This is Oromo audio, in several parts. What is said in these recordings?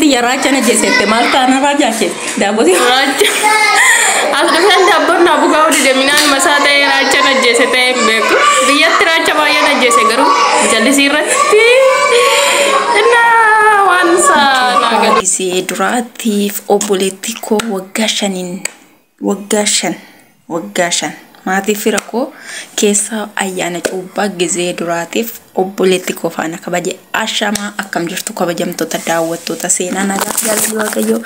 Tiyya raachana jeesette maal taana raajaa kee daabbooti. Raacha. As dhufeen daabboon naa bukaa hojii deeminaan masaa ta'ee raacha najjeese ta'ee hin beeku. Biyyatti raacha baay'ee najjeese garuu jallisii irratti innaa waan isaa naa galu. Gisee duraatiif obboleetti koo waggaa shaniin Waggaa shan Waggaa shan Maatii fira koo keessaa ayyaana cuubbaa gizee duraatiif obboleetti koo faana kabaje ashamaa akkam jirtu kabajamtoota daawwattoota seenaa nagaa jaalalli waaqayyoo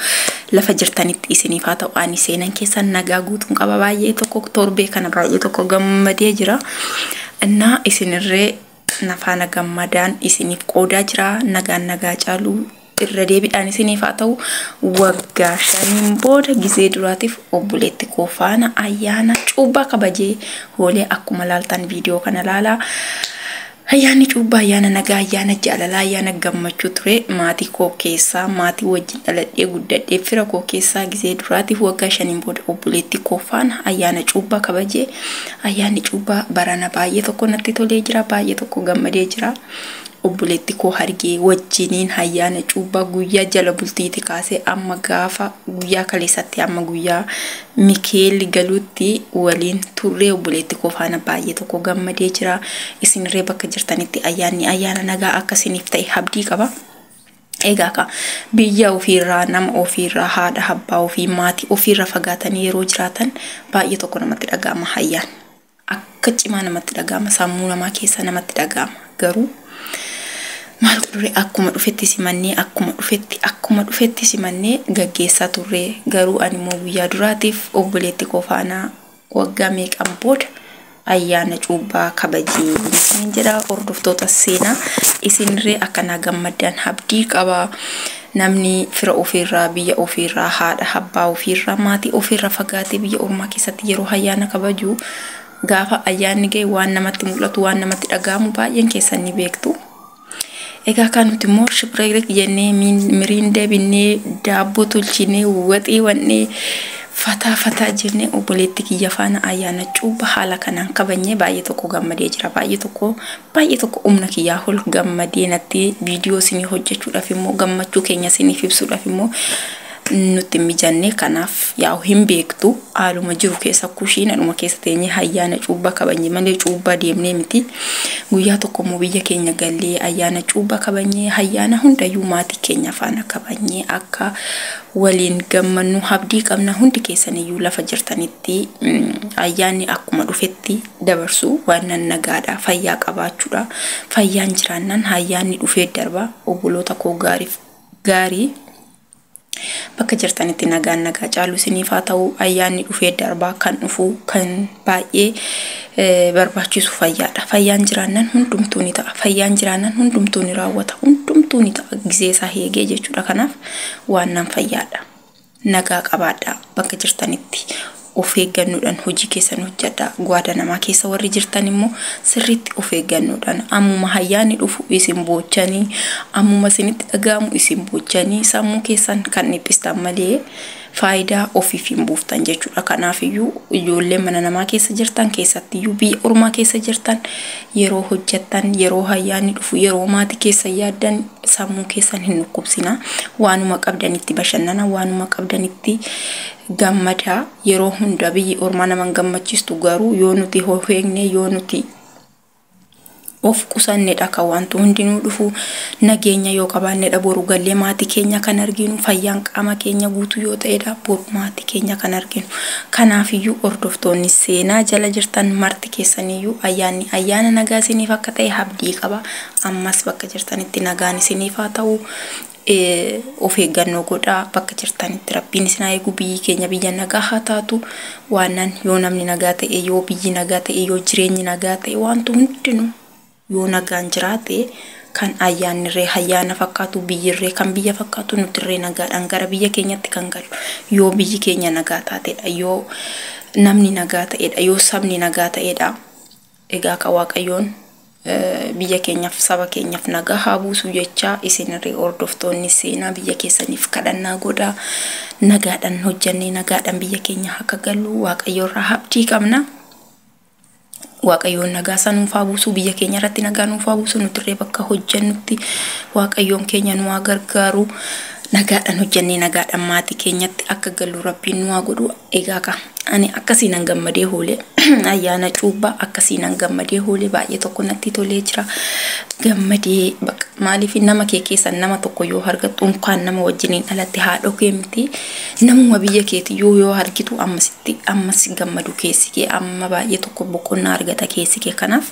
lafa jirtanitti isiniif haa ta'u ani seenan keessan nagaa guutuun qaba baay'ee tokko torbee kana baay'ee tokko gammadee jira innaa isinirree na faana gammadaan isiniif qoodaa jira nagaan nagaa caaluu irra deebiidhaan isiniif haa ta'u waggaa shaniin booda gizee duraatiif obboleetti koo faana ayyaana cuubbaa kabajee hoolee akkuma laaltan viidiyoo kana laalaa ayyaanni cuubbaa ayyaana nagaa ayyaana jaalalaa ayyaana gammachuu ture maatii koo keessaa maatii wajjin dhaladhee guddadhee fira koo keessaa gizee duraatiif waggaa shaniin booda obboleetti koo faana ayyaana cuubbaa kabajee Ayyaanni cuuphaa barana baay'ee tokko natti tolee jira, baay'ee tokko gammadee jira. Obboleetti koo hargee wajjiniin ayyaana cuuphaa guyyaa jala bultiiti kaasee amma gaafa guyyaa kaleessatti amma guyyaa Mikaa'el galuutti waliin turree obboleetti koo faana baay'ee tokko gammadee jira. Isinirree bakka jirtanitti ayyaanni ayyaana nagaa akka isiniif ta'e abdii qaba. Egaa kaa, biyya ofii irraa, nama ofii irraa, haadha, abbaa ofii, maatii ofii irraa fagaatanii yeroo jiraatan baay'ee tokko namatti dhaga'ama hayyaan. Akka cimaa namatti dhaga'ama, sammuu namaa keessa namatti dhaga'ama. Garuu maaltu ture akkuma dhufetti simannee, akkuma dhufetti, akkuma dhufetti simannee gaggeessaa turre. Garuu ani immoo guyyaa duraatiif obboleetti koo faana Waggaa meeqaan booda ayyaana cuubbaa kabaje isiniin jedha hordoftoota seenaa isinirree akkanaa gammaddan habdii qaba namni fira ofiirraa biyya ofiirraa haadha abbaa ofiirraa maatii ofiirraa fagaatee biyya ormaa keessatti yeroo ayyaana kabaju gaafa ayyaanni ga'e waan namatti mul'atu waan namatti dhaga'amu baay'een keessan ni beektu. Egaa kan nuti immoo shiphireerik jennee miriinda binnee daabboo tolchinee waxii wannee fataa fataa jennee obboleetti kiyya faana ayyaana cuubba haala kanaan kabanyee baay'ee tokko gammadee jira baay'ee tokko baay'ee tokko umna kiyyaa hol gammadee natti viidiyoo isinii hojjechuudhaaf immoo gammachuu keenya isiniif ibsuudhaaf immoo nutti hin mijanne kanaaf yaa'u hin beektu haaluma jiru keessa kushiinadhuma keessa teenyee ayyaana cuubbaa kabanye malee cuubbaa deemnee miti guyyaa tokko immoo biyya keenya gallee ayyaana cuubbaa kabanyee ayyaana hundayyuu maatii keenya faana kabanyee akka waliin gammannu abdii qabna hundi keessaniyyuu lafa jirtanitti mm, ayyaanni akkuma dhufetti dabarsu waan nan nagaadha fayyaa qabaachuudha fayyaan jiraannan ayyaanni dhufee darba obboloota koo gaariif gaarii Bakka jirtanitti nagaan nagaa caalu isiniif haa ta'u. Ayyaanni dhufee darbaa kan dhufu kan baay'ee barbaachisu fayyaadha. Fayyaan jiraannan hundumtuu ni ta'a. Fayyaan jiraannan hundumtuu ni raawwata. Hundumtuu ni ta'a gizee isaa eegee jechuudha. Kanaaf waan nan fayyaadha. Nagaa qabaadhaa bakka jirtanitti. Of eeggannoodhaan hojii keessan hojjadhaa. Guadanamaa keessa warri jirtan immoo sirriitti of eeggannoodhaan ammuma hayyaanni dhufu isin boochanii, ammuma isinitti dhaga'amu isin boochanii sammuu keessan kan dhiphistan malee faayidaa ofiif hin buuftan jechuudha. Kanaafiyyuu ijoollee mana namaa keessa jirtan keessattiyyuu biyya ormaa keessa jirtan yeroo hojjattan, yeroo hayyaanni dhufu, yeroo maatii keessan yaaddan sammuu keessan hin dhukkubsinaa. Waanuma qabdanitti bashannanaa, waanuma qabdanitti gammada yeroo hunda biyyi ormaa nama hin gammachiistu garuu yoo nuti of eegne yoo nuti of qusannedha kan wanti hundinuu dhufu nageenya yoo qabaannedha boru gallee maatii keenya kan arginu fayyaan qaama keenya guutuu yoo ta'edha boru maatii keenya kan arginu kanaafiyyuu hordoftoonni seenaa jala jirtan marti keessaniyyuu ayyaanni ayyaana nagaa isiniif akka ta'e abdii qaba ammas bakka jirtanitti nagaan isiniif haa ta'u of eeggannoo godhaa bakka jirtanitti rabbiin isin haa eegu biyyi keenya biyya nagaa haa taatu waannan yoo namni nagaa ta'e yoo biyyi nagaa ta'e yoo jireenyi nagaa ta'e waantu hundinuu yoo nagaan jiraate kan ayyaannirree hayyaana fakkaatu biyyirree kan biyya fakkaatu nutirree nagaadhaan gara biyya keenyatti kan galu yoo biyyi keenya nagaa taatedha yoo namni nagaa ta'edha yoo sabni nagaa ta'edha Egaa ka Waaqayyoon biyya keenyaf saba keenyaf nagaa haa buusuu jechaa isinirri hordoftoonni seenaa biyya keessaniif kadhannaa godhaa nagaadhan hojjannee nagaadhan biyya keenya haka galluu Waaqayyo irraa habdii qabna Waaqayyoon nagaa isaa nuuf haa buusuu biyya keenya irratti nagaa nuuf haa buusuu nutirree bakka hojjannutti Waaqayyoon keenya nu haa gargaaru nagaadhan hojjannee nagaadhan maatii keenyatti akka galluu rabbiin nu haa godhuu Egaa kaa ani akkasiinan gammadee hoole ayyaana cuubbaa akkasiinan gammadee hoole baay'ee tokko natti tolee jira gammadee baqa maaliif nama kee keessan nama tokko yoo argattu unkaan nama wajjiniin dhalatte haadhoo kee miti namuma biyya keeti yoo yoo argitu ammasitti ammas gammadu keessi kee amma baay'ee tokko boqonnaa argata keessi kee kanaaf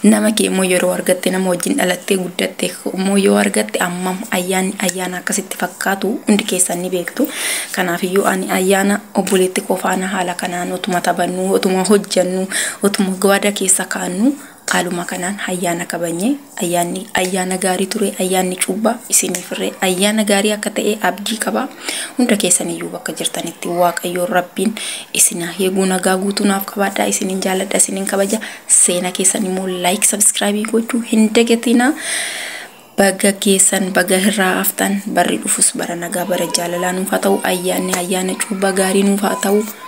Nama kee immoo yeroo argatte nama wajjin dhalattee guddatte immoo yoo argatte ammam ayyaanni ayyaana akkasitti fakkaatu hundi keessan ni beektu. Kanaafiyyuu ani ayyaana obboleetti koo faana haala kanaan otuma taphannuu otuma hojjannuu otuma gawaada keessa kaannuu haaluma kanaan ayyaana kabanye ayyaanni ayyaana gaarii ture ayyaanni cuubbaa isiniif irree ayyaana gaarii akka ta'e abdii qaba. Hunda keessan iyyuu bakka jirtanitti waaqayyoon rabbiin isin haa eeguu nagaa guutuu naaf qabaadhaa isinin jaaladha isinin kabaja seena keessan immoo like subscribe gochuu hin dagatinaa baga geessan baga hirraa haftan barri dhufus bara nagaa bara jaalalaa nuuf haa ta'u ayyaanni ayyaana cuubaa gaarii nuuf haa ta'u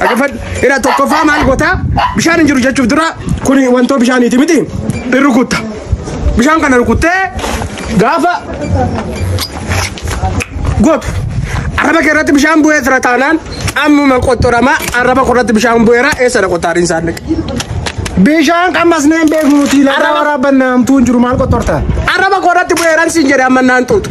Dhaggeeffadhu. Ira tokkoffaa maal goota? Bishaan hin jiru jechuuf dura kun wantoo bishaaniiti miti? Hin rukutta. Bishaan kana rukuttee gaafa gootu. Arraba kee irratti bishaan bu'ee jira taanaan ammuma qoxxorama arraba koo irratti bishaan bu'eera eessa dha qoxxaariin isaan dhaqe. Bishaan qammasnee hin beeknu nuti lafa Arraba- waraabbanna hamtuu hin jiru maal qottorta? Arraba koo irratti bu'eeran siin jedhe amma naan xuuxu.